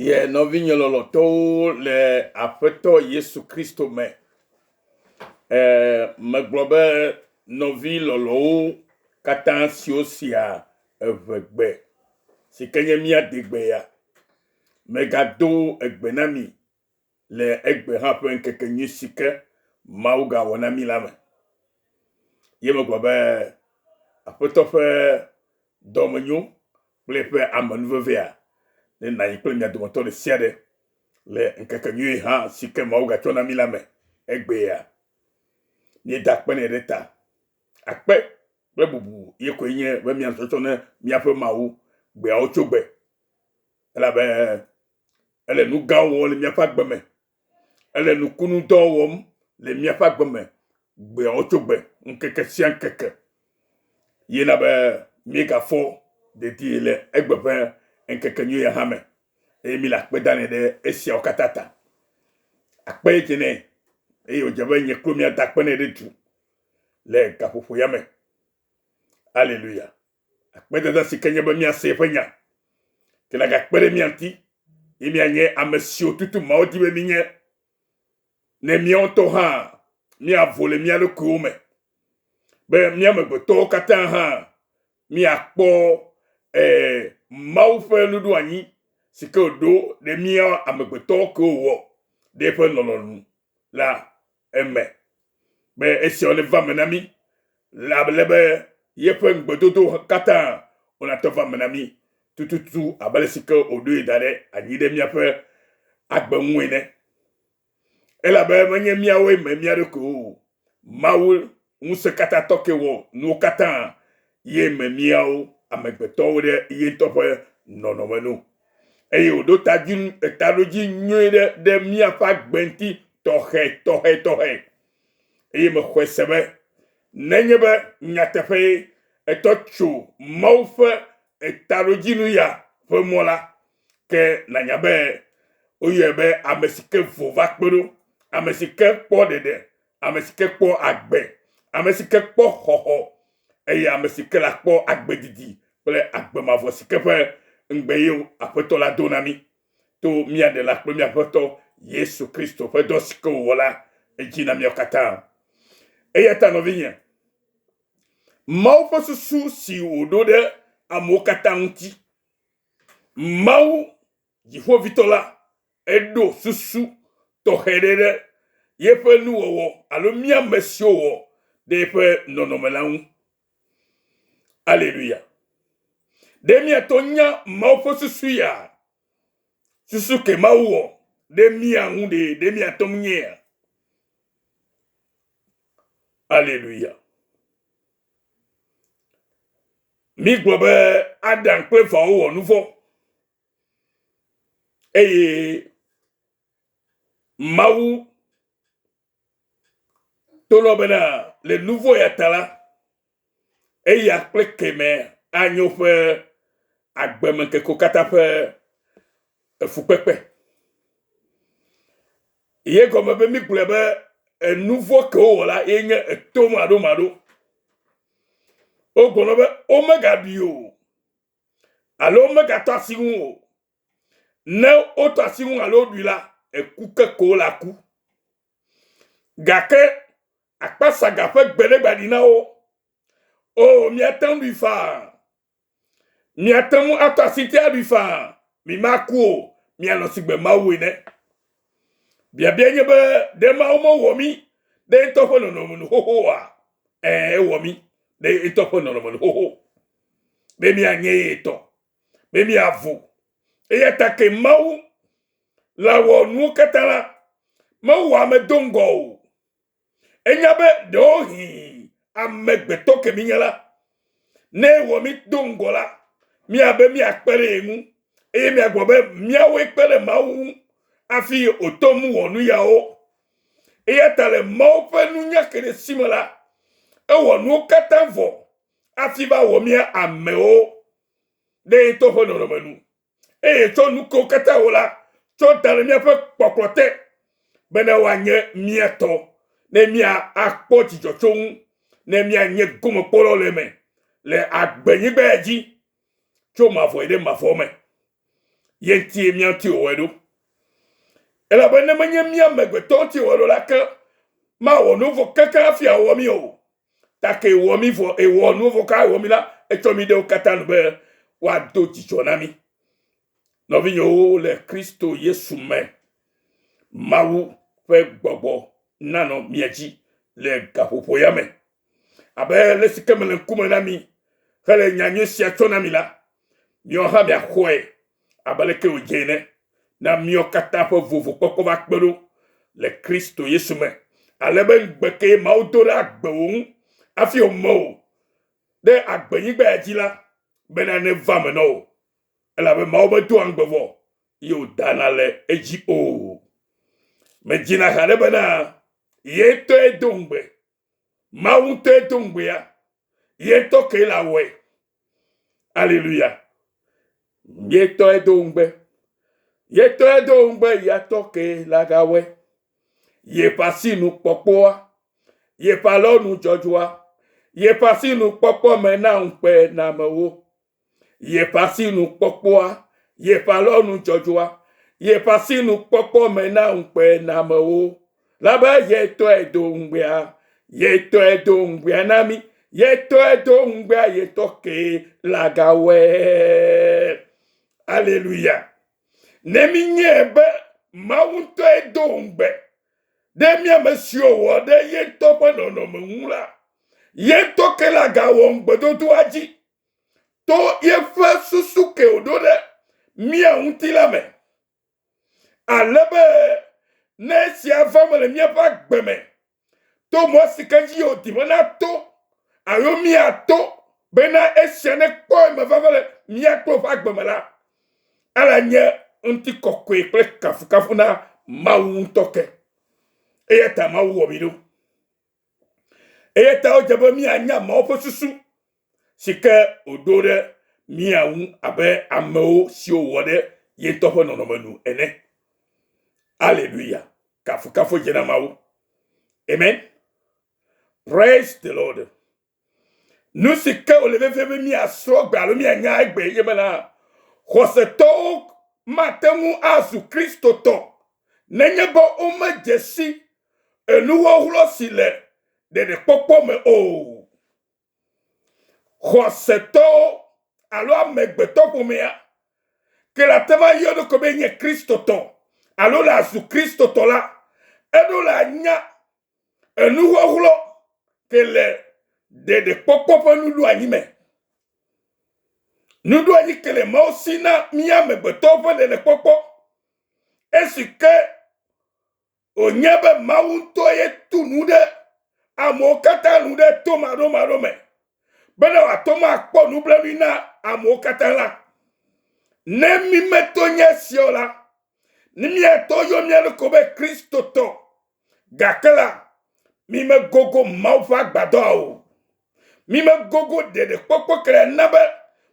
Ye nɔvinye lɔlɔtɔwo le Aƒetɔ Yesu Kristo me, e, megblɔ be nɔvi lɔlɔwo katã siwo sia eʋegbe, si ke nye mía degbea, megado egbe na mi le egbe hã ƒe ŋkekenyui si ke Mawu gã wɔ na mí la me. Ye megblɔ be, Aƒetɔ ƒe dɔmenyo kple eƒe amenuvevea nenanyi kple mia dometɔ ɖe sia ɖe le ŋkekenyui hã si ke Mawu gatsɔ na mí la me egbea. Míeda akpe nɛ ɖe ta. Akpe kple bubu ye koe nye be míanɔ tsɔtsɔ ne míaƒe Mawu gbeawo tso gbe, elabe Ele nu gãwo wɔm le míaƒe agbe me. Ele nukunudɔ wɔm le míaƒe agbe me gbeawo tso gbe, ŋkeke sia ŋkeke. Ye na be míegafɔ dedie le egbe ƒe ŋkekenyui ya hã me eye míle akpe danɛ ɖe esiawo katã ta. Akpe dze nɛ eye wòdze be nye kple míada akpe nɛ ɖe du le gaƒoƒo ya me. Aleluya. Akpedada si ke nye be míase eƒe nya ke nagakpe ɖe mía ŋuti ye míanye ame siwo tutu Mawu di be mínye, ne míawo ŋutɔ hã míavo le mía ɖokuiwo me be mía amegbetɔwo katã hã míakpɔ eh, Mawu ƒe nuɖoanyi si ke wòɖo ɖe mía amegbetɔwo kewo wɔ ɖe eƒe lɔlɔ̃nu la eme be esiawo neva eme na mí le ale be yeƒe ŋugbedodo katã wònatɔ va eme na mí tututu abe ale si ke wòɖoe da ɖe anyi ɖe míaƒe agbe ŋu ene. Elabe menye míawoe me mía ɖokuiwo o, Mawu Ŋusẽkatãtɔ ke wɔ nuwo katã, ye me míawo amegbetɔwo ɖe ye ŋutɔ ƒe nɔnɔme nu, eye wòɖo tadzi, taɖodzi nyui ɖe ɖe míaƒe agbe ŋuti tɔxɛtɔxɛtɔxɛ. Eye mexɔe se be nenye be nyateƒee ètɔ tso Mawu ƒe taɖodzinu ya ƒe mɔ la, ke nànya be woyɔe be ame si ke vo va kpe ɖo, ame si ke kpɔ ɖeɖe ame si ke kpɔ agbe, ame si ke kpɔ xɔxɔ, eye ame si ke la kpɔ agbe didi kple agbe mavɔ si ke ƒe ŋugbe ye Aƒetɔ la do na mí to mía Ɖela kple mía Aƒetɔ Yesu Kristo ƒe dɔ si ke wòwɔ la dzi na míawo katã. Eya ta nɔvinye, Mawu ƒe susu si wòɖo ɖe amewo katã ŋuti, Mawu Dziƒoʋĩtɔ la, eɖo susu tɔxɛ ɖe ɖe yeƒe nuwɔwɔ alo mía amesiwo wɔ ɖe yeƒe nɔnɔme la ŋu. Aleluya! Ɖe míate ŋu nya Mawu ƒe susu ya? Susu kae Mawu wɔ ɖe mía ŋu ɖee? Ɖe míate ŋu nyea? Aleluya! Mígblɔ be Adam kple Evawo wɔ nuvɔ̃. Eye Mawu to lɔ bena le nuvɔ ya ta la, eya kple kemɛ anyo ƒe agbeme keko kata ƒe efukpekpe. Ye gɔme be mi gblɔe be enuvɔ ke wowɔ la ye nye eto maɖo maɖo. Wogblɔ be omega bi o. alo womegatɔ asi ŋu o. Ne wotɔ asi ŋu alo woɖui la, eku ke ko wole aku. Gake akpasaga ƒe gbe ɖe gbaɖi na wo. O, miate ŋu ɖui faa. Miate ŋu atɔ asi ŋuti aɖui faa. Mimaku o, mianɔ sigbe Mawu ene. Biabia nye be, ɖe Mawu mewɔ mí ɖe eŋutɔ ƒe nɔnɔme nu xoxo oa? Ɛ̃, ewɔ mí ɖe eŋutɔ ƒe nɔnɔme nu xoxo. be mianye ye tɔ, be miavu. Eya ta ke Mawu la wɔ nuwo katã la, mewɔ ame do ŋgɔ o. Enya be ɖewohĩ amegbetɔ ke minye la, ne wɔ mi do ŋgɔ la, míabe míakpe ɖe ye ŋu eye míagblɔ be míawoe kpe ɖe Mawu ŋu hafi wòtɔ nu wɔ nu yawo. Eya ta le Mawu ƒe nunya ke ɖe si me la, ewɔ nuwo katã vɔ afi va wɔ mía amewo ɖe ye to ƒe nɔnɔme nu. Eye tsɔ nuko katã wo la, tsɔ da ɖe míaƒe kpɔkplɔ te, bena woanye mía tɔ, ne mía akpɔ dzidzɔ tso ŋu, ne mía nye gomekpɔlɔ le eme, le agbenyigba ya dzi, tso mavɔ yi ɖe mavɔ me. Ye ŋutie mía ŋuti wòwɔe ɖo. Elabe ne menye mía amegbetɔ ŋuti wòwɔe ɖo la ke, mawɔ nu vɔ̃ kekeŋ hafi awɔ mí o. take wɔ mi vɔ ewɔ nuwo vɔ ka wɔ mi la etsɔ mi ɖewo katã nu be wòado dzidzɔ na mi nɔvinyewo le kristo yesu me mawu ƒe gbɔgbɔ nanɔ mia dzi le gaƒoƒo ya me abe le si ke mele ŋkume na mi hele nyanyui sia tsɔ na mi la miawo hã miaxɔe abe aleke wòdze ene, na míawo katã ƒe vovokpɔkpɔ va kpe ɖo le Kristo Yesu me, ale be ŋugbe kee Mawu do ɖe agbe wò ŋu hafi wòme wò ɖe agbenyigba ya dzi la, bena neva me nɔ wò, elabe Mawu medoa ŋugbe vɔ, eye wòdana le edzi o. Medzina haɖe bena ye ŋutɔe do ŋugbe. Mawu ŋutɔe do ŋugbea, ye ŋutɔ kee le awɔe. Aleluya. Ye ŋutɔe do ŋugbe. Ye ŋutɔe do ŋugbe ya tɔ kee le agawɔe. Yeƒe asinu kpɔkpɔa, yeƒe alɔnu dzɔdzɔa, yeƒe asinu kpɔkpɔ me na ŋukpe na amewo. yeƒe asinukpɔkpɔa, yeƒe alɔnudzɔdzɔa, yeƒe asinukpɔkpɔ me na ŋukpenamewo. Labe yetɔe do ŋugbea, yetɔe do ŋugbea na mi, yetɔe do ŋugbea yetɔ ke lagawɔe. Aleluya. Ne minyɛ be Mawu ŋutɔe do ŋugbe ɖe mía me siwo wɔ ɖe yetɔ ƒe nɔnɔme ŋu la, yetɔ ke lagawɔ ŋugbedodoa dzi. to yeƒe susu ke wòɖo ɖe mía ŋuti la me, ale be ne esia va me le míaƒe agbe me to mɔ si ke dzi wòdi be nato alo míato bena esia nekpɔ eme vava le mía kple woƒe agbe me la, ela nye ŋutikɔkɔe kple kafukafu na Mawu ŋutɔ ke. Eya ta Mawu wɔ mi ɖo. Eya ta wodze be míanya Mawu ƒe susu si ke wòɖo ɖe mía ŋu abe amewo siwo wòwɔ ɖe ye ŋutɔ ƒe nɔnɔme nu ene. Aleluya! Kafukafu dze na Mawu. Amen. Praise the Lord. Nu si ke wòle vevie be míasrɔ̃ gbe alo míanya egbe enye bena xɔsetɔwo mate ŋu azu Kristotɔ nenye be womedze si enuwɔwlɔ si le ɖeɖekpɔkpɔ me o. Xɔsetɔwo alo amegbetɔƒomea ke le ate ŋu ayɔ eɖokui be enye Kristotɔ alo le azu Kristotɔ la, eɖo le anya Enuxɔxlɔ̃ te le ɖeɖekpɔkpɔ ƒe nuɖoanyi me. Nuɖoanyi ke le Mawu si na mí amegbetɔwo ƒe ɖeɖekpɔkpɔ. Esi ke wònye be Mawu ŋutɔ ye tu nu ɖe amewo katã nu ɖe to maɖomaɖo me bene wòate ŋu akpɔ nublanui na amewo katã la, ne mímeto nye esia o la, ne míato yɔ mía ɖokui be Kristotɔ Gake la, mimegogo Mawu ƒe agbadɔa o. Mimegogo ɖeɖekpɔkpɔ kele na be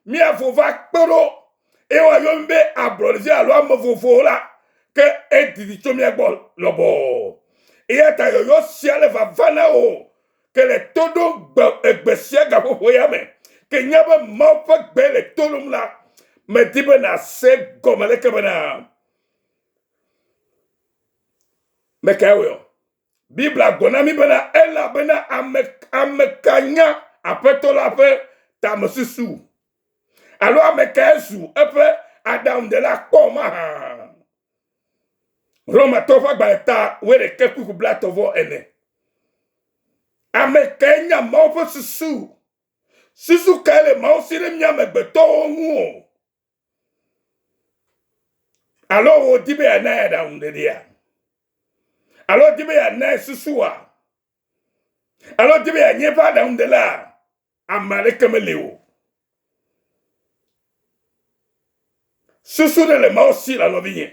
miavo va kpe ɖo eye woayɔ mi be ablɔɖevi alo ame vovo la, ke edidi tso mia gbɔ lɔbɔɔ. Eya ta yɔyɔ sia le vava na wò ke le to ɖom gbe egbe sia gaƒoƒo ya me. Ke nya be Mawu ƒe gbe le to ɖom la, medi be nàse gɔme leke bena. Mekae wɔe ɔ? Biblia gblɔ na mi bena elabena ame ame ka nya aƒetɔ la ƒe tamesusu alo ame kae zu eƒe aɖaŋuɖela kpɔ mahã. Romatɔ ƒe agbalẽ ta wuiɖeke kuku blatɔ vɔ ene. Ame kae nya Mawu ƒe susu? Susu kae le Mawu si ɖe mía amegbetɔwo ŋu o? Alo wòdi be yeanae aɖaŋuɖeɖea? Alo wòdi be yeanae susua? Alo wòdi be yeanye eƒe aɖaŋuɖelaa? Ame aɖeke meli o. Susu ɖe le Mawu si la nɔvinye,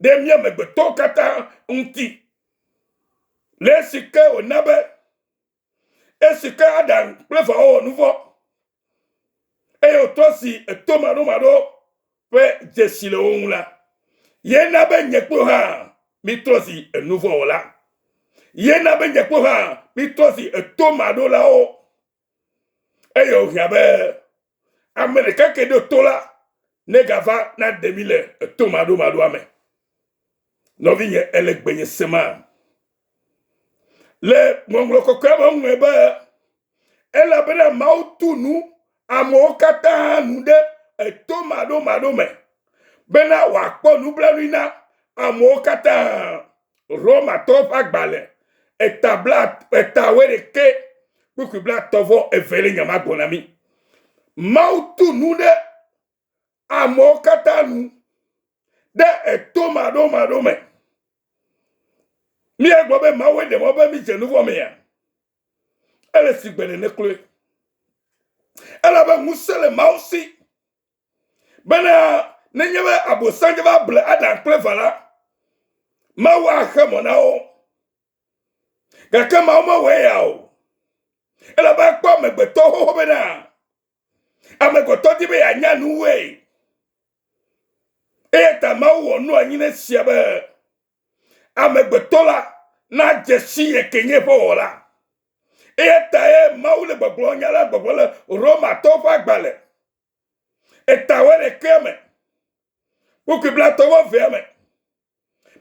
ɖe mía amegbetɔwo katã ŋuti, le esi ke wòna be, Esi ke Adam kple Evawo wɔ nu vɔ, eye wòtrɔ si eto maɖomaɖo ƒe dzesi le wo ŋu la, ye na be nye kple hã mítrɔ si enuvɔwɔla. Ye na be nye kple hã mítrɔ si eto maɖolawo. Eye wòhiã be Ame ɖeka ke ɖo to la ne gava na ɖe mi le eto maɖo maɖoa me. Nɔvi nye ele gbenye sema. Le ŋɔŋlɔ kɔkɔe me ŋue be elabena Mawu tu nu amewo katã nu ɖe eto maɖo maɖo me bena wòakpɔ nublanui na amewo katã. Romatɔwo ƒe agbalẽ eta bla eta wuiɖekɛ kpukpui blatɔ vɔ eve le nyama gbɔ na mí. Mawu tu nu ɖe amewo katã nu ɖe eto maɖomaɖo me. Míegblɔ be Mawu ɖe mɔ be mídze nu vɔ mea? Ele si gbe ɖe nekloe. Elabe ŋusẽ le Mawu si. Bena nenye be Abosam dze va ble Adam kple Eva la, Mawu axe mɔ na wo. Gake Mawu mewɔe ya o. Elabe ekpɔ amegbetɔ xoxo bena amegbetɔ di be yeanya nuwoe. Eya ta Mawu wɔ nu anyi ne sia be amegbetɔ la nadze si ye ke nye eƒe wɔla. Eya tae Mawu le gbɔgblɔ nya la gbɔgblɔ le Romatɔwo ƒe agbalẽ Etawe le kea me, kpukpui blatɔwo vea me.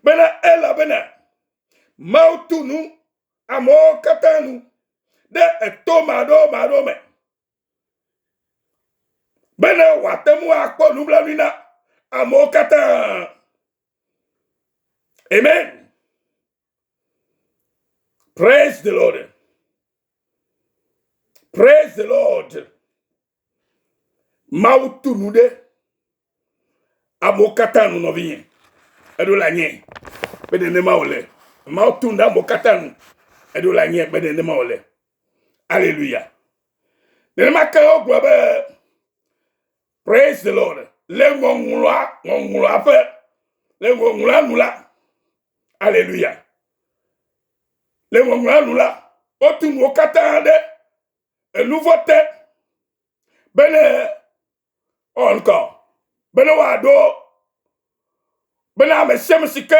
Bena elabena Mawu tu nu amewo katã nu ɖe eto maɖewo maɖewo me. Bena wòate ŋu akpɔ nublanui na amewo katã. Amen. Praise the Lord. Praise the Lord. Mawu tu nu ɖe amewo katã nu nɔvinye. Eɖo le anyi be nenema wòle. Mawu tu nu ɖe amewo katã nu. Eɖo le anyi be nenema wòle. Aleluya. Nenema ke wogblɔ be Praise the Lord. Le ŋɔŋlɔa, ŋɔŋlɔa ƒe, le ŋɔŋlɔa nu la, aleluya. Le ŋɔŋlɔa nu la, wotu nuwo katã ɖe enuvɔ te bene ɔnkɔ, bene woaɖo, bene ame sia ame si ke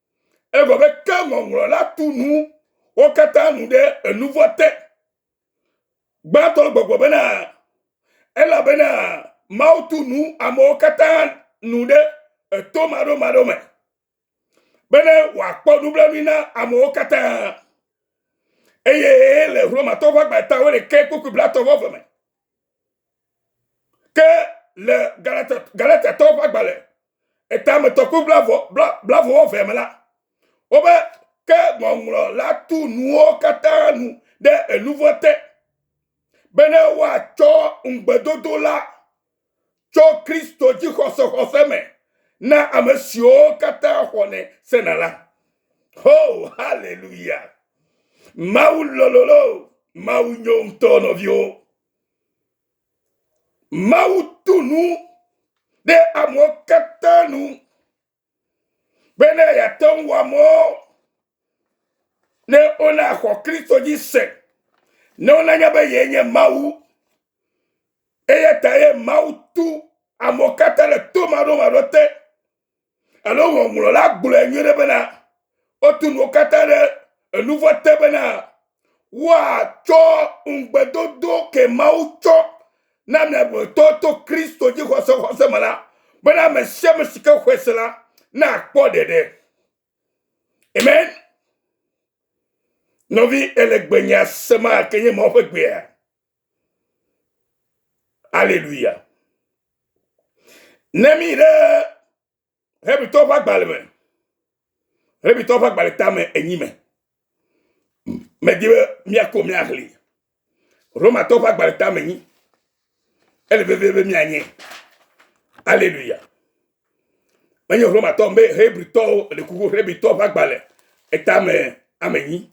Egɔ be ke ŋɔŋlɔ la tu nu wo katã nu ɖe enuvɔ te. Gbãtɔ gbɔgbɔ bena, elabena Mawu tu nu amewo katã nu ɖe eto maɖomaɖo me, bene wòakpɔ nublanui na amewo katã. Eye le Romatɔwo ƒe agba eta wuiɖekɛ kpukpui blatɔ vɔ eve me, Ke le Galatiatɔwo ƒe agbalẽ etametɔ kple blavɔwɔvea me la, wobe ke ŋɔŋlɔ la tu nuwo katã nu ɖe enu vɔ̃ te bene woatsɔ ŋugbedodo la tso Kristo dzixɔsexɔse me na ame siwo katã xɔnɛ sena la. Ho, haleluya! Mawu lɔlɔ̃ loo, Mawu nyo ŋutɔ nɔviwo. Mawu tu nu ɖe amewo katã nu be ne yeate ŋu wɔ amewo ne wona xɔ Kristo dzi se, ne wona nya be yee nye Mawu. Eya ta ye Mawu tu amewo katã le to maɖomaɖo te. Alo ŋɔŋlɔla gblɔe nyuie ɖe bena, wotu nuwo katã ɖe enu vɔ̃ te bena woatsɔ ŋugbedodo ke Mawu tsɔ na mi agblemetɔ to Kristo dzixɔse xɔse me la, bena ame sia ame si ke xɔe se la nakpɔ ɖeɖe. Amen. Nɔvi ele gbe nya se ma ke nye Mawu ƒe gbea. Aleluya. Ne mi ɖe Hebritɔ ƒe agbalẽ me, Hebritɔ ƒe agbalẽ tame enyi me, medi be miako miaxli. Romatɔ ƒe agbalẽ tame enyi. Ele vevie be mianye. Aleluya. Menye Romatɔ be Hebritɔwo le kuku Hebritɔ ƒe agbalẽ etame ame enyi.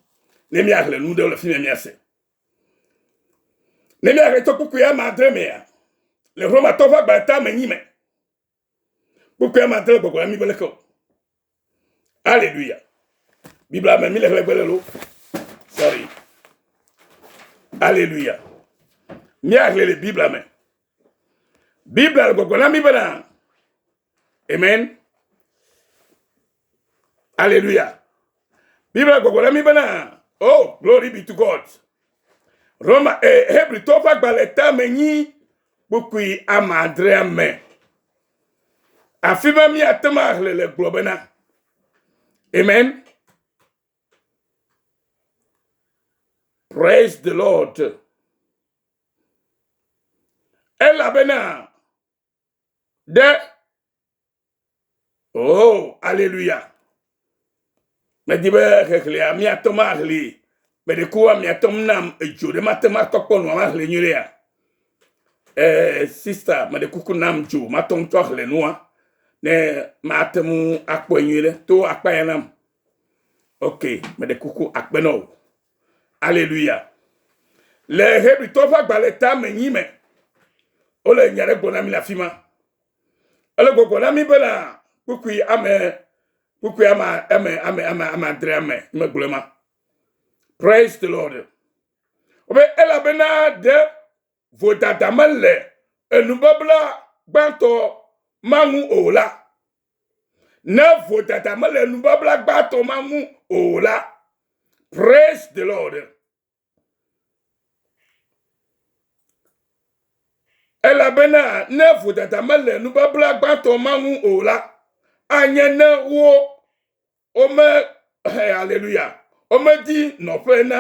Ne miaxle nu ɖe le fi me miase. Ne mía ɣeto kpukpui ame adre mea, le Romatɔ ƒe agba ta me nyi me. Kpukpui ame adre gbɔgbɔ la mi be leke o. Aleluya. Biblia me mi le hlɛgbe le lo. Sorry. Aleluya. Mía hle le Biblia me. Biblia le gbɔgbɔ na mi bena. Amen. Alléluia. Bible gbɔgbɔ ɖe mi bena, oh, glory be to God. Roma, eh, Hebritɔ ƒe agbalẽ tame nyi kpukpui ama adrea me. Afi ma míate ŋu ahle le gblɔ bena, Amen. Praise the Lord. Elabena ɖe oh aleluya medi be xexlẽa míatɔ maxli meɖekua miatɔ nam edzo ɖe mate matɔ kpɔ nua maxli nyuiɖea eh, sista meɖe kuku nam dzo matɔ ŋutɔ axli nua ne mate ŋu akpɔe nyuiɖe to akpa ya nam ok meɖe kuku akpe na wò Aleluya. Le Hebritɔ ƒe agbalẽ ta me nyi me, wole nya ɖe gbɔna mi le afi ma. Ele gbɔgbɔ na mi bena kpukpui ame kpukpui ama ame ame ame ame adre ame megblɔ ma. Praise the Lord. Wobe elabena ɖe vodada mele enubabla gbãtɔ ma ŋu o la, ne vodada mele enubabla gbãtɔ ma ŋu o la, praise the Lord. Elabena ne vodada mele enubabla gbãtɔ ma ŋu o la, anye ne wo Wome, haleluya, womedi nɔƒe na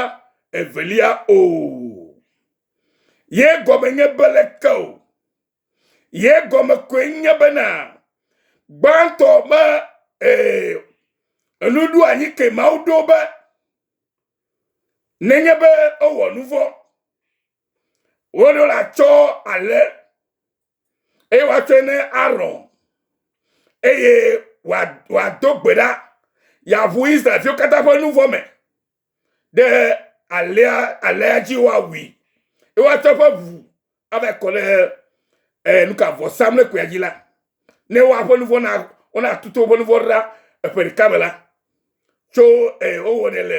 evelia o. Ye gɔme nye be leke o. Ye gɔme koe nye bena gbãtɔ me ee, enu ɖo anyi ke Mawu ɖo be nenye be ewɔ nu vɔ̃, woɖo la tsɔ ale eye woatsɔe ne Aron, eye wòado gbe ɖa, yeaʋu Israelviwo katã ƒe nu vɔ me ɖe alea alea dzi woawui, eye woatsɔ eƒe ʋu ava kɔ ɖe eh, nuka vɔsamlekpuia dzi la, ne woaƒe nu vɔ na wonatutu woƒe nu vɔ ɖa eƒe ɖeka me la. tso eh, wowɔnɛ le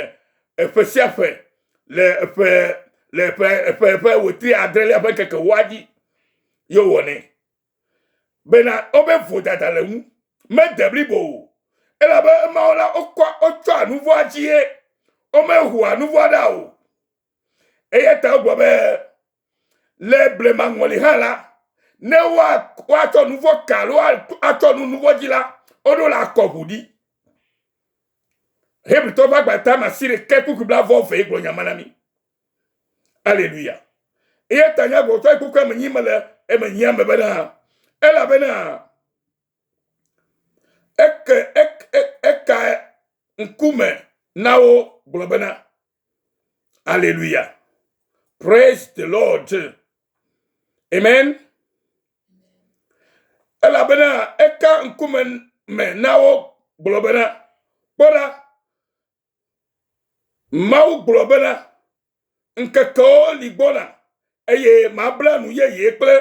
eƒe sia ƒe le eƒe le eƒe eƒe eƒe wetri adrelia ƒe ŋkeke woa dzi ye wowɔnɛ bena wobe vodada le ŋu mede blibo o elabe emawo la wokɔ wotsɔa nuvɔa dzie womehua nuvɔa ɖa o eya ta wogblɔ be le blema ŋɔli hã la ne woatsɔ nu vɔ ka alo atsɔ nu nu vɔ dzi la woɖo le akɔ ʋu ɖi hebritɔ ƒe agbata ma si ɖeke kpukpui bla vɔ vɛ gblɔ nyama na mi aleluya eya ta nya gbɔtɔ kpukpui ame nyi mele eme nyi ame bena elabena eke eke eka ŋkume na wo gblɔ bena Hallelujah. Praise the Lord. Amen. Elabena eka ŋkume me na wo gblɔ bena, kpɔ ɖa, Mawu gblɔ bena, ŋkekewo li gbɔna, eye mabla nu yeye kple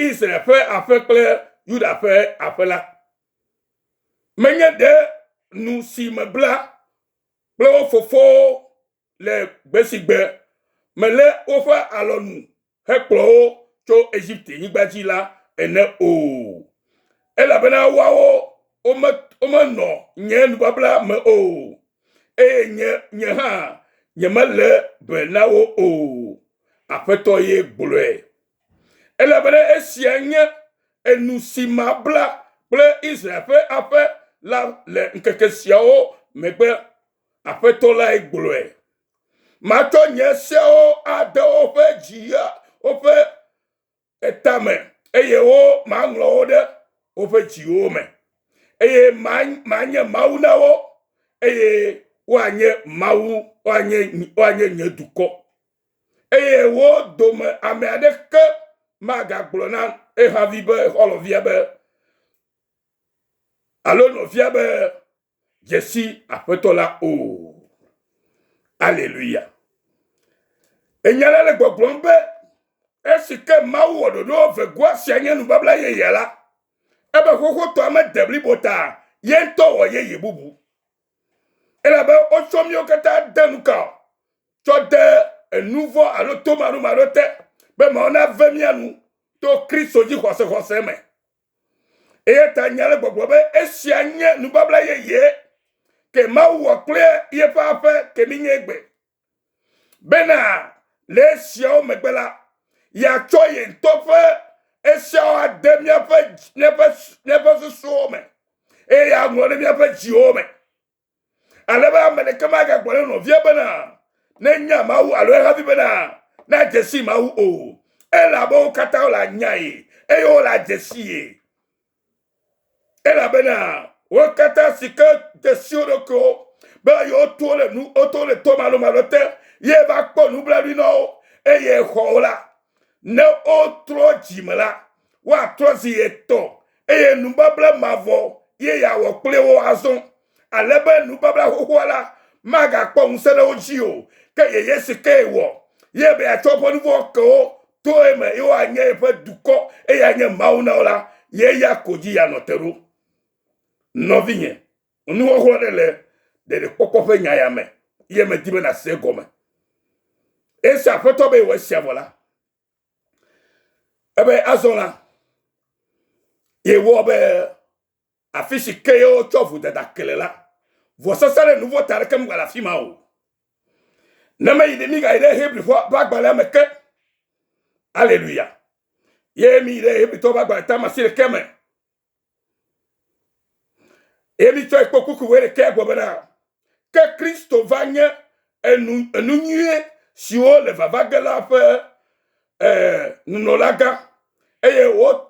Israel ƒe aƒe kple Yuda ƒe aƒe la. Menye ɖe nu si mebla kple wo fofowo le gbe si gbe melé woƒe alɔ nu hekplɔ wo tso Egipte-nyigba dzi la ene o, elabena woawo womenɔ nye nubabla me o, eye nye hã nyemelé be na wo o, Aƒetɔ ye gblɔe. Elabena esia nye enu si mabla kple Israel ƒe aƒe la le ŋkeke siawo megbe, Aƒetɔ lae gblɔe. Matsɔ nye seawo ade woƒe dzi ya woƒe etame, eye wo maŋlɔ wo ɖe woƒe dziwo me, eye manye Mawu na wo, eye woanye Mawu, woanye, woanye nye dukɔ. eye wo dome ame aɖeke magagblɔ na ehavi be xɔlɔvia be alo nɔvia be dzesi aƒetɔ la o. Aleluya. Enya la le gbɔgblɔm be esi ke Mawu wɔ ɖoɖo vegoa sia nye nubabla yeyea la, ebe xoxotɔa mede blibo ta ye ŋutɔ wɔ yeye bubu. elabe wotsɔ míwo katã de nu ka o tsɔ de enu vɔ̃ alo tomaɖomaɖo te be Mawu nave mía nu to Kristo dzi xɔsexɔse me. Eya ta nya le gbɔgblɔ be esia nye nubabla yeye ke Mawu wɔ kple yeƒe aƒe ke minye gbe bena le esiawo megbe la, yeatsɔ ye ŋutɔ ƒe esiawo ade míaƒe míaƒe míaƒe susuwo me eye yeaŋlɔ ɖe míaƒe dziwo me. Ale be ame ɖeke magagblɔ ne nɔvia bena nenya Mawu alo ehavi bena nadze si Mawu o. Elabe wo katã wole anyae eye wole adze si ye. Elabena wo katã si ke de si wo ɖokuiwo be yewoto le nu woto le to malomalo te ye va kpɔ nublanui na wo eye xɔ wo la ne wotrɔ dzi me la woatrɔ zi etɔ̃ eye nubabla mavɔ ye yeawɔ kple wo azɔ ale be nubabla xoxoa la magakpɔ ŋusẽ ɖe wo dzi o, ke yeye si kee wɔ ye be yeatsɔ woƒe nuvɔ̃ ke wo to eme, ye woanye yeƒe dukɔ, eye anye Mawu na wo la, ye ya ko dzi yeanɔ te ɖo. Nɔvinye, nuxɔxlɔ̃ ɖe le ɖeɖekpɔkpɔ ƒe nya ya me, ye medi be nàse egɔme. Esi Aƒetɔ be yewɔ esia vɔ la, ebe azɔ la, yewɔ be Afi si kee wotsɔ vodada kele la, vɔsasa ɖe nu vɔ̃ ta aɖeke megale afi ma o. Ne meyi ɖe migayi ɖe Hebrifo ƒe agbalẽa me ke. Aleluya! Ye miyi ɖe Hebritɔwo ƒe agbalẽ tame asi ɖekɛ me. Ye mitsɔe kpɔ kuku wɔ ɖekɛ gbɔ bena Ke Kristo va nye enu, enu nyuie siwo le vava ge la ƒe eh, nunɔlagã. Eye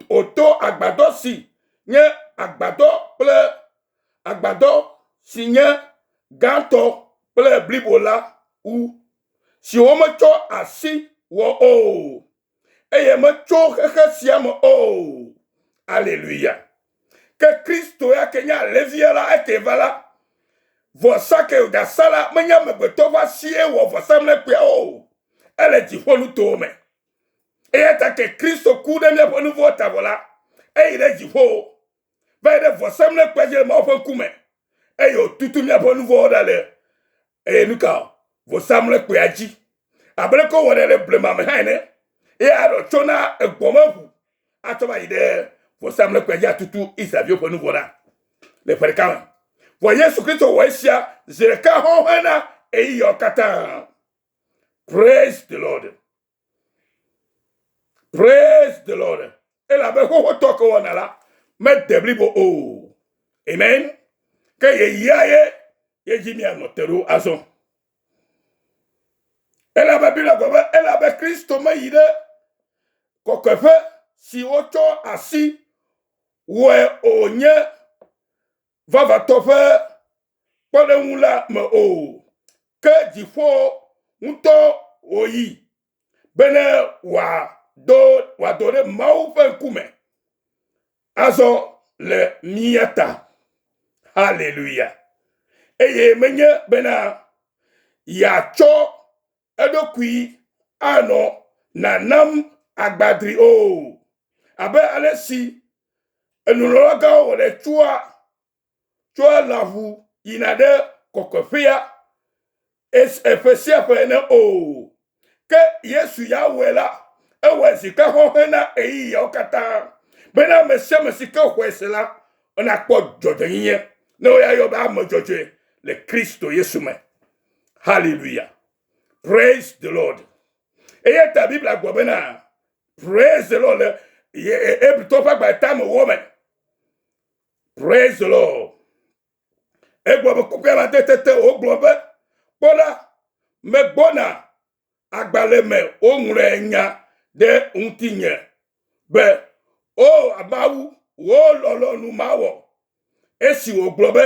wòto agbadɔ si nye agbadɔ kple agbadɔ si nye gãtɔ kple blibo la wu, si wometsɔ asi wɔ o. eye metso xexe sia me o aleluya ke kristo ya ke nye alevia la eke va la vɔsa ke wògasa la menye amegbetɔ ƒe asie wɔ vɔsamlekpuia o ele dziƒo nutowo me eya ta ke kristo ku ɖe míaƒe nuvɔwo ta vɔ la eyi ɖe dziƒo va yi ɖe vɔsamlekpea dzi le Mawu ƒe ŋkume, eye wòtutu míaƒe nu vɔ̃wo ɖa le eye nu ka o vɔsamlekpea dzi, abe ɖeke wowɔnɛ le blema me hã ene, eye Aron tsɔ na egbɔmeʋu atsɔ va yi ɖe vɔsamlekpea dzi atutu Israelviwo ƒe nu vɔ̃ ɖa le ƒe ɖeka me. Vɔ Yesu Kristo wɔ esia zi ɖeka hɔ̃ɔ hena ɣeyiɣiawo katã. Praise the Lord. Praise the Lord. Elabe xoxotɔ ke wɔna la mede blibo o. Amen. Ke yeyia ye yedzi mianɔ te ɖo azɔ. Elabe Biblia gblɔ be elabe Kristo meyi ɖe kɔkɔeƒe si wotsɔ asi wɔe o nye vavãtɔ ƒe kpɔɖeŋu la me o, ke dziƒo ŋutɔ wòyi bene wòado wòado ɖe Mawu ƒe ŋkume azɔ le mía ta. Haleluya! Eye menye bena yeatsɔ eɖokui anɔ nanam agbadri o. Abe alesi enulɔlagãwo wɔnɛ tsɔa tsɔa lãʋu yina ɖe kɔkɔeƒea ƒe sia ƒe ene o. Ke Yesu ya wɔe la, ewɔe zi ka xɔxlẽ na ɣeyiɣiawo katã, bena ame sia ame si ke xɔe se la, nakpɔ dzɔdzɔenyenye, ne woyayɔ be ame dzɔdzɔe le Kristo Yesu me. Hallelujah. Praise the Lord. Eya ta Biblia gblɔ bena praise the Lord le Hebritɔ ƒe agba eta me wɔ me. Praise the Lord. Egblɔ be kpɔkpɔ amadede te wogblɔ be kpɔ la megbɔna agbalẽ me woŋlɔe nya ɖe ŋutinye be, O Mawu, wò lɔlɔ̃nu mawɔ. Esi wògblɔ be,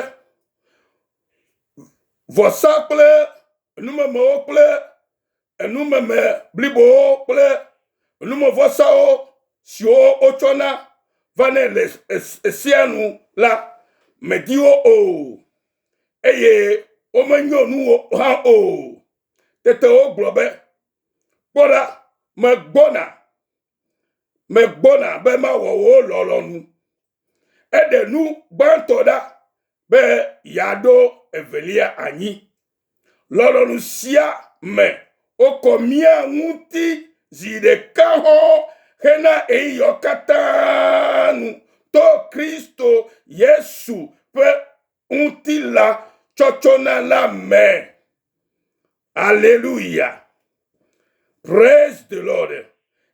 Vɔsa kple enumemewo kple enumeme blibowo kple enumevɔsawo siwo wotsɔna vanɛ le Sea nu la, mèdi wo o, eye womenyo nuwò hã o. Tete wogblɔ be, Kpɔ ɖa, megbɔna, megbɔna be mawɔ wò lɔlɔ̃nu. Eɖe nu gbãtɔ ɖa be yeaɖo evelia anyi. Lɔlɔ̃nu sia me wokɔ mía ŋuti zi ɖeka hɔ̃ hena ɣeyiɣiwo katã nu to Kristo Yesu ƒe ŋutilã tsɔtsɔna la me. Aleluya. Praise the Lord.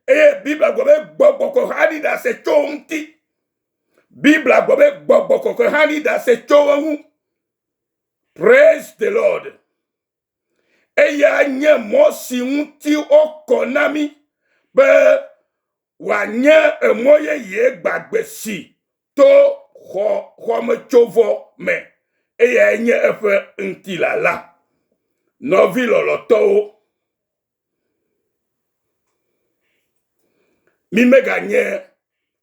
Eye Biblia gblɔ be gbɔgbɔ kɔkɔe hã ɖi ɖase tso ŋuti. Biblia gblɔ be gbɔgbɔ kɔkɔe hã ɖi ɖase tso eŋu. Praise the Lord. Eya nye mɔ si ŋuti wokɔ na mi be wòanye emɔ yeye gbagbe si to xɔ xɔmetsovɔ me, eyae nye eƒe ŋutila la. Nɔvi lɔlɔ̃tɔwo, mímeganye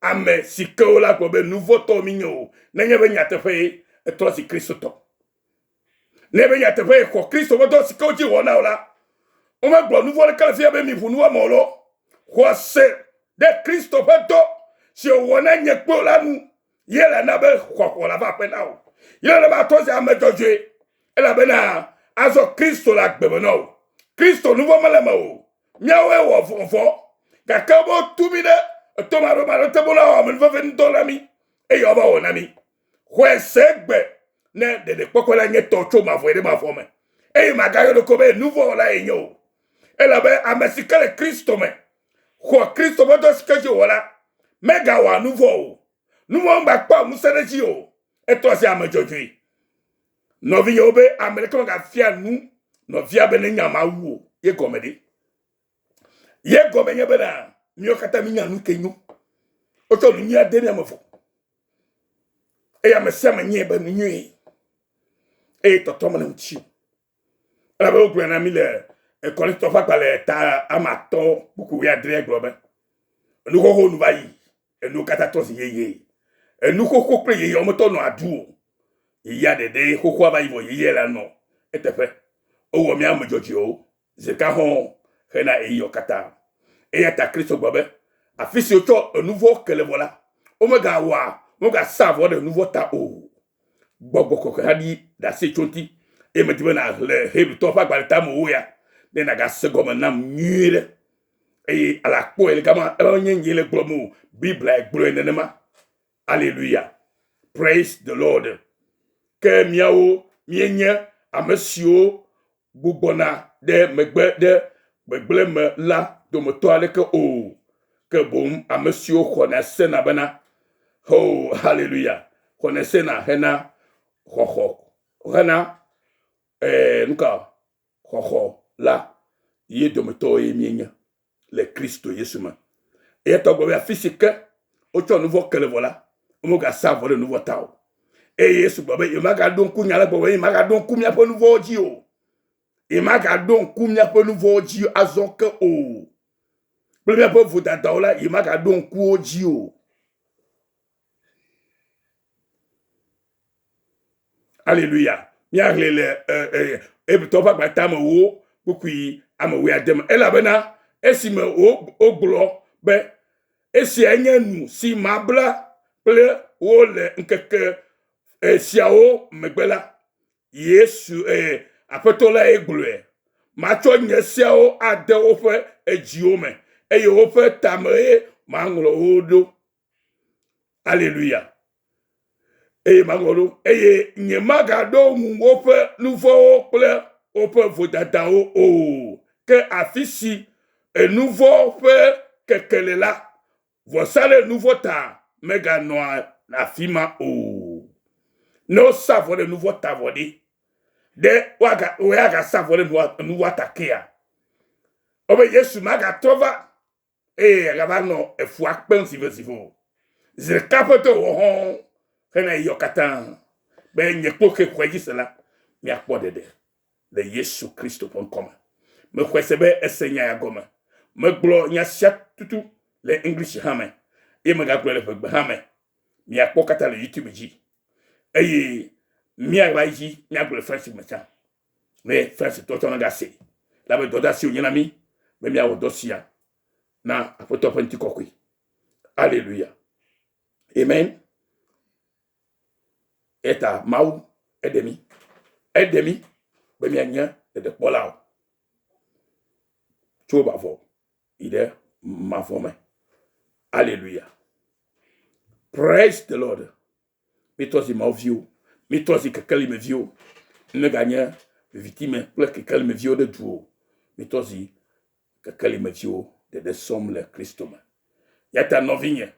ame si ke wola gblɔ be nu vɔ̃ tɔwo mínye o, nenye be nyateƒee, etrɔ zi Kristotɔ. Ne be nyateƒe yexɔ Kristo ƒe dɔ si ke wodzi wɔna o la, womegblɔ nu vɔ̃ ɖeka le fia be miʋu nu wɔame o lɔ, xɔase ɖe Kristo ƒe dɔ si wòwɔ na nye kple wò la nu ye la na be xɔxɔ la va aƒe na wò. Ye la na be àtrɔ zi ame dzɔdzɔe, elabena azɔ Kristo le agbe me na wò. Kristo nu vɔ̃ mele eme o. Míawoe wɔ vɔ̃, gake wometu mí ɖe etɔmaɖomaɖo te be woawɔ amenuvevenudɔ na mí, eye woava wɔ na mí. Xɔe se gbe ne ɖeɖekpɔkpɔ la nye tɔ tso mavɔe ɖe mavɔ me, eye màgayɔ ɖokui be nuvɔ̃wɔla yenye o, elabe ame si ke le Kristo me xɔ Kristo ƒe dɔ si ke dzi wòwɔ la, megawɔa nuvɔ̃ o. Nuvɔ̃ megakpɔa ŋusẽ ɖe edzi o, etrɔa zi ame dzɔdzɔe. Nɔvinyewo be, Ame ɖeke megafia nu nɔvia be nenya Mawu o ye gɔme ɖe? Ye gɔme nye be na míawo katã mínya nu ke nyo. Wotsɔ nu nyuia de ne ame vɔ. Eye ame sia ame nyɛ be nu nyuie. Eye tɔtɔ mele ŋuti. Elabe wogblɔe na mí le Korintitɔ ƒe agbalẽ ta ama atɔ̃ kpukpu wuiadre gblɔ be, Enuxoxo nu va yi, enuwo katã trɔ zi yeye. Enuxoxo kple yeyea wometɔ nɔa du o. Yeyea ɖeɖee xoxoa va yi vɔ yeyea le anɔ eteƒe. Wowɔ mí ame dzɔdzɔewo. Ze ka hɔ̃ɔ xena ɣeyiɣiɔ katã. Eya ta Kristo gblɔ be, Afi si wotsɔ enu vɔ̃wo ke le vɔ la, womegawɔa, womegasaa vɔ ɖe nu vɔ̃ ta o. Gbɔgbɔ kɔkɔe hã ɖi ɖase tso ŋuti, eye medi be nàxlẽ Hebritɔwo ƒe agbalẽ tamewo ya, ne nàgase gɔme nam nyuiɖe. Eye ale akpɔe le gama, elabe menye nyee le gblɔm o, Biblae gblɔe nenema. Aleluya! Praise the Lord! Ke míawo míenye ame siwo gbugbɔna ɖe megbe ɖe gbegblẽ me la dometɔ aɖeke o, ke boŋ ame siwo xɔna sena bena, Hoo, haleluya! xɔnɛ sena hena xɔxɔ, hena, ɛɛ, nuka, xɔxɔ la, ye dometɔwoe míenye. le Kristo Yesu me. Eya ta gɔme afi si ke wotsɔ nu vɔ ke le vɔ la, womegasa vɔ ɖe nu vɔ ta o. Eye Yesu gblɔ be yemagaɖo ŋku nya la gbɔ be yemagaɖo ŋku míaƒe nu vɔwo dzi o. Yemagaɖo ŋku míaƒe nu vɔwo dzi azɔ ke o. Kple míaƒe vodadawo la, yemagaɖo ŋku wo dzi o. Aleluya. Míahlẽ le Hebritɔwo ƒe agbata me wo kpukpui ame wuiade me. Elabena esime wogblɔ be, esiae nye nu si mabla kple wo le ŋkeke siawo megbe la, Yesu, eh, aƒetɔ lae gblɔe, matsɔ nye seawo ade woƒe edziwo me, eye woƒe tameɣe maŋlɔ wo ɖo. Aleluya. Eye magɔɖo, eye nyemagaɖo ŋu woƒe nuvɔwo kple woƒe vodadawo o. Ke afi si enuvɔ ƒe keke le la, vɔsa ɖe nuvɔ ta meganɔa afi ma o. Ne wosa vɔ ɖe nuvɔ ta vɔ ɖi, ɖe woagasa vɔ ɖe nuvɔ ta kea? Ebe Yesu magatrɔ va eye agava nɔ efua kpem sivotsivo o. Zi ɖeka ƒe to wò hɔ̃ hena eyɔ katã be nye kple xe xɔe dzi se la, míakpɔ ɖeɖe le Yesu Kristo ƒe ŋkɔ me. Mexɔe se be ese nya ya gɔme. Megblɔ nya sia tutu le English hã me eye megagblɔe le ƒegbe hã me. Miakpɔ katã le YouTube dzi eye míaɣla edzi míagblɔe le French me tsã. ne Farisitɔ tsɔ naɖe asi la be dɔdeasi wònye na mí be míawɔ dɔ sia na Aƒetɔ ƒe ŋutikɔkɔe. Aleluya. Amen. Eta Mawu eɖe mí. Eɖe mí be míanye ɖeɖekpɔlawo tso mavɔ yi ɖe mavɔ me. Aleluya. Praise the Lord. Míetrɔ zi Mawu viwo. Míetrɔ zi kekeli me viwo. Míeganye viviti me kple kekeli me viwo ɖe du o. Míetrɔ zi kekeli me viwo ɖeɖe sɔm le Kristo me. Yata nɔvinye,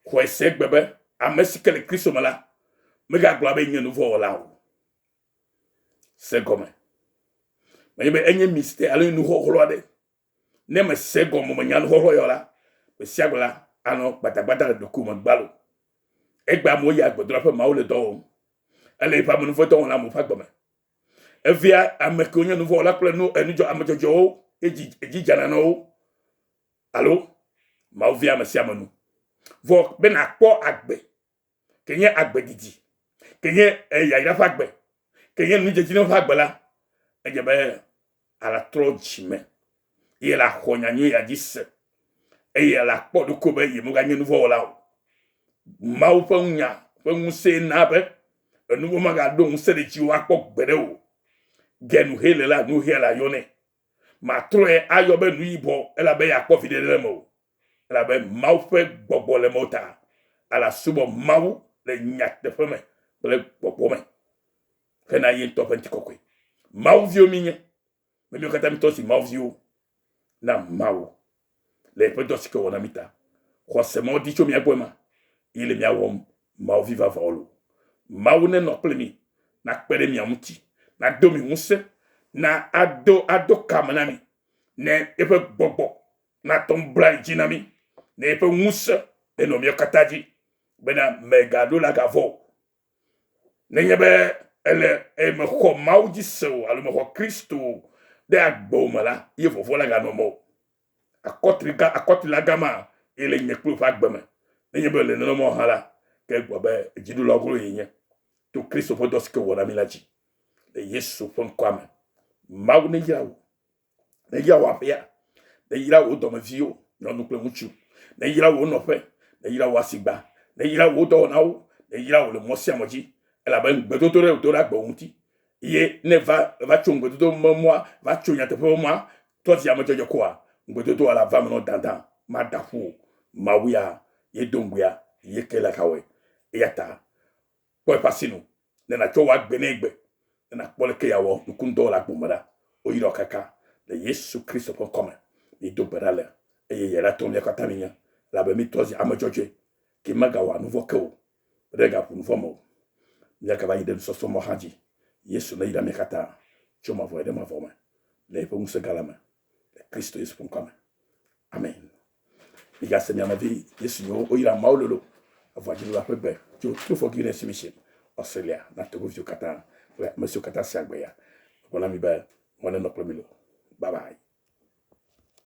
xɔe se gbe be ame si ke le Kristo me la, megagblɔ be nye nuvɔwɔla o. Se gɔme. Menye be enye mistake alo nuxɔxlɔ aɖe. Ne mèse gɔmemenya nu xɔxɔ yɔ la, gbe sia gbe la anɔ gbadagbada le ɖokuiwò me gbalo. Egbea amewo yia gbedola ƒe mawu le dɔ wɔm, ele eƒe amenuvedɔwɔla amewo ƒe agbe me. Evea ame kewo nye nuvɔwɔla kple nu enudzɔ ame dzɔdzɔewo ye dzi edzi dzana na wo alo mawu vea ame sia ame nu. Vɔ be nàkpɔ agbe ke nye agbe didi, ke nye yayra ƒe agbe, ke nye nudzedzinu ƒe agbe la, edze be alatrɔ dzi me eye laxɔ nyanyui ya dzi se eye lakpɔ ɖoko be yemeganye nuvɔwɔla o. Mawu ƒe ŋunya ƒe ŋusẽ na be enuvɔ magaɖo ŋusẽ ɖe dziwò akpɔ gbeɖe o. Gen he le la nu hea la yɔnɛ. Matrɔe ayɔ be nu yibɔ elabe yeakpɔ viɖe ɖe eme o. Elabe Mawu ƒe gbɔgbɔ le mewò ta, ale asubɔ Mawu le nyateƒe me kple gbɔgbɔ me hena ye ŋutɔ ƒe ŋutikɔkɔe. Mawu viwo mínye, be míwo katã mítɔ zi Mawu viwo na Mawu le yeƒe dɔ si ke wòwɔ na mí ta. Xɔse mawo di tso mía gbɔ ema ye le mía wɔm Mawu vi vavãwo loo. Mawu nenɔ kple mi, nakpe ɖe mia ŋuti, nado mi ŋusẽ, na ado ado ka me na mi ne eƒe gbɔgbɔ natɔ nublanui dzi na mí ne eƒe ŋusẽ enɔ mía katã dzi bena mègaɖo la gavɔ o. Nenye be ele eye mexɔ Mawu dzi se o alo mexɔ Kristo ɖe agbe o me la, ye vɔvɔ̃ la ganɔ me o. Akɔtliga, akɔtlilaga ma ye le nye kple wò ƒe agbe me. Nenye be le nenema o hã la, ke egblɔ be dziɖula glo ye nye to Kristo ƒe dɔ si ke wòwɔ na mí la dzi. Le Yesu ƒe ŋkɔa me, Mawu neyra wò. Neyra wò aƒea, neyra wò dɔmeviwo, nyɔnu kple ŋutsu, neyra wò nɔƒe, neyra wò asigba, neyra wò dɔwɔnawo, neyra wò le mɔ sia mɔ dzi, elabe ŋugbedodo ɖe do ɖe agbe wò ŋuti. Eye ne va va tso ŋugbedodo me mɔa, va tso nyateƒe me mɔa, tɔ zi ame dzɔdzɔ koa, ŋugbedodoa la va me nɔ dandan, mada ƒu o. Mawu ya ye do ŋugbea, ye ke le xa wɔe. Eya ta Kpɔ eƒe asinu, ne nàtsɔ wò agbe nɛ egbe, ne nàkpɔ aleke yeawɔ nukundɔ le agbo me ɖa. Woyra wò kaka le Yesu Kristo ƒe ŋkɔ me. Mído gbe ɖa le eye Ye la tɔ mía katã mínye, elabe mítɔ zi ame dzɔdzɔe, ke megawɔa nu vɔ̃ ke o, ɖe gaʋu nu vɔ̃ me o. Míagava yi ɖe nusɔsrɔ̃ mɔ hã dzi. Yesu neyra mí katã tso mavɔe ɖe mavɔ me le Yeƒe ŋusẽ gã la me, le Kristo Yesu ƒe ŋkɔa me. Amen. Migase mia nɔvi ye siwo woyra Mawu lolo evɔa dziɖula ƒe gbe tso Truford Guinness Mission, Australia na togoviwo katã kple ame siwo katã sea gbe ya. Megblɔ na mi be Mawu nenɔ kple mi loo. Bye bye.